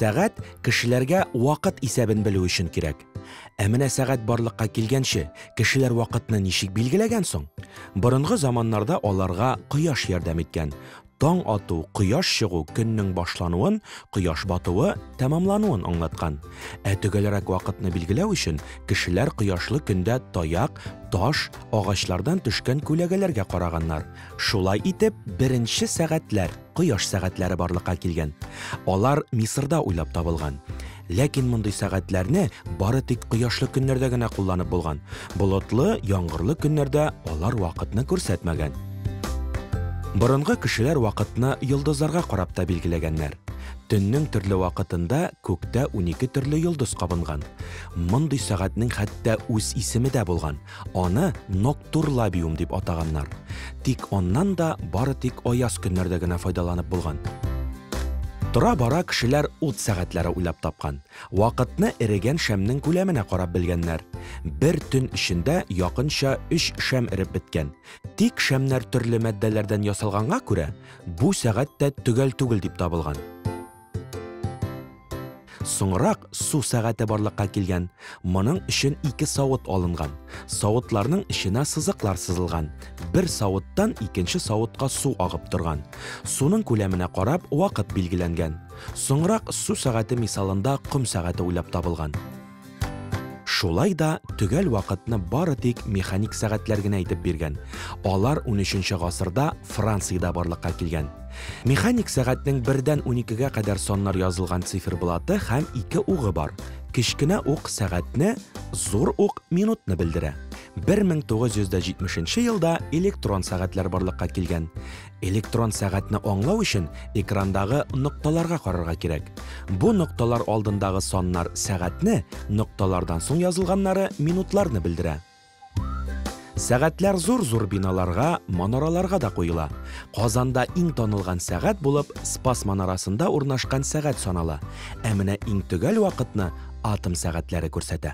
Сәгать кешеләргә вакыт исәбен белү өчен кирәк. Ә менә сәгать барлыкка килгәнче, кешеләр вакытны ничек билгеләгән соң? Борынгы заманнарда аларга кояш ярдәм иткән. Таң ату, кояш чыгу көннең башлануын, кояш батуы, тәмамлануын аңлаткан. Ә төгәлрәк вакытны билгеләү өчен кешеләр кояшлы көндә таяк, таш, агачлардан төшкән күләгәләргә караганнар. Шулай итеп, беренче сәгатьләр, кояш сәгатьләре барлыкка килгән. Алар Мисырда уйлап табылган. Ләкин мондый сәгатьләрне бары тик кояшлы көннәрдә генә кулланып булган. Болытлы, яңгырлы көннәрдә алар вакытны күрсәтмәгән. Борынгы кешеләр вакытны йолдызларга карап та билгеләгәннәр. Төннең төрле вакытында күктә унике төрле йолдыз кабынган. Мондый сәгатьнең хәтта үз исеме дә булган, Аны ноктурлабиум дип атаганнар. Тик аннан да бары тик аяз көннәрдә генә файдаланып булган. Тора-бара кешеләр ут сәгатьләре уйлап тапкан. Вакытны эрегән шәмнең күләменә карап белгәннәр. Бер төн эчендә якынча өч шәм эреп беткән. Тик шәмнәр төрле матдәләрдән ясалганга күрә, бу сәгать тә төгәл түгел дип табылган. Соңрак су сәгате барлыкка килгән. Моның өчен ике савыт алынган. Савытларның эченә сызыклар сызылган. Бер савыттан икенче савытка су агып торган. Суның күләменә карап, вакыт билгеләнгән. Соңрак су сәгате мисалында ком сәгате уйлап табылган. Шулай да төгәл вакытны бары тик механик сәгатьләр генә әйтеп биргән. Алар унөченче гасырда Франциядә барлыкка килгән. Механик сәгатьнең бердән уникегә кадәр саннар язылган циферблаты һәм ике угы бар. Кечкенә ук сәгатьне, зур ук минутны белдерә. 1970 елда электрон сәгатьләр барлыкка килгән. Электрон сәгатьне аңлау өчен экрандагы нокталарга карарга кирәк. Бу нокталар алдындагы саннар сәгатьне, нокталардан соң язылганнары минутларны белдерә. Сәгатьләр зур-зур биналарга, манараларга да куела. Казанда иң танылган сәгать булып Спас манарасында урнашкан сәгать санала. Ә менә иң төгәл вакытны атом сәгатьләре күрсәтә.